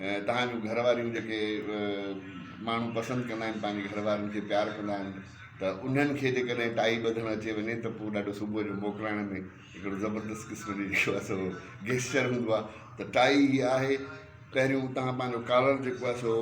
توهان جون گهر واريون جيڪي ماڻهو پسند ڪندا آهن پنهنجي گهر وارن کي پيار ڪندا آهن ته انهن کي جيڪڏهن ٽائي ٻڌڻ اچي وڃي ته پوء ڏاڍو صبح جو موڪلائڻ ۾ هڪڙو زبردست قسم جي جيڪو آهي سو گيسچر هوندو آهي ته ٽائي هي آهي پهريون توهان پنهنجو ڪالر جيڪو آهي سو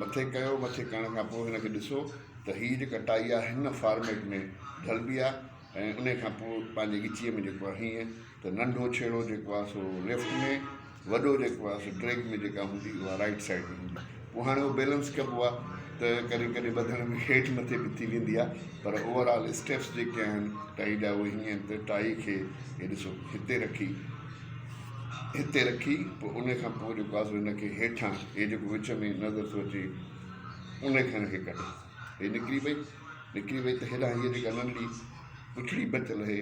مٿي ڪيو مٿي ڪرڻ کان پوء هن کي ڏسو ته هي جيڪا ٽائي آهي هن فارميٽ ۾ ڍلبي آهي ۽ ان کان پوء پنهنجي ڳچيء ۾ جيڪو آهي هيئن ته ننڍو ڇيڙو جيڪو آهي سو ليفٽ ۾ وڏو جيڪو آهي سو ڊريگ ۾ جيڪا هوندي اها رائيٽ سائيڊ ۾ هوندي پوء هاڻي اهو بيلنس ڪبو آهي ته ڪڏهن ڪڏهن ٻڌڻ ۾ هيٺ مٿي به ٿي ويندي آهي پر اوور آل اسٽيپس جيڪي آهن ٽائي جا اهي هيئن آهن ته ٽائي کي هي ڏسو هتي رکي هتي رکي پوء ان کان پوء جيڪو آهي سو هن کي هيٺان هي جيڪو وچ ۾ نظر ٿو اچي ان کان هي ڪڍ هي نڪري وئي نڪري وئي ته هيڏانهن هيء جيڪا ننڍڙي پڇڙي بچل هي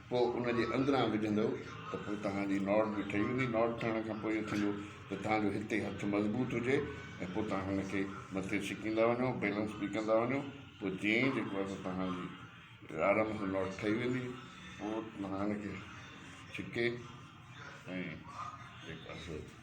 پوء ان جي اندران وجهندؤ ته پوء توهان جي نوڙ به ٺهي ويندي، نوڙ ٺهڻ کان پوء اهو ٿيندو ته توهان جو هتي هٿ مضبوط هجي ۽ پوء توهان هن کي مٿي ڇڪيندا وڃو، بيلنس به ڪندا وڃو، پوء جئين ئي جيڪو آهي سو توهان جي آرام سان نوڙ ٺهي ويندي. پوء توهان هن کي ڇڪي ۽ جيڪو آهي سو.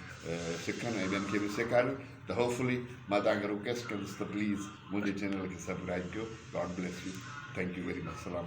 سکن ۽ ٻين کي به سيکاريو ته هو فلي مان توهان کي رڪويسٽ ڪندس ته پليز منهنجي چينل کي سبڪرائيب ڪيو God bless you thank you very much سلام عليڪم.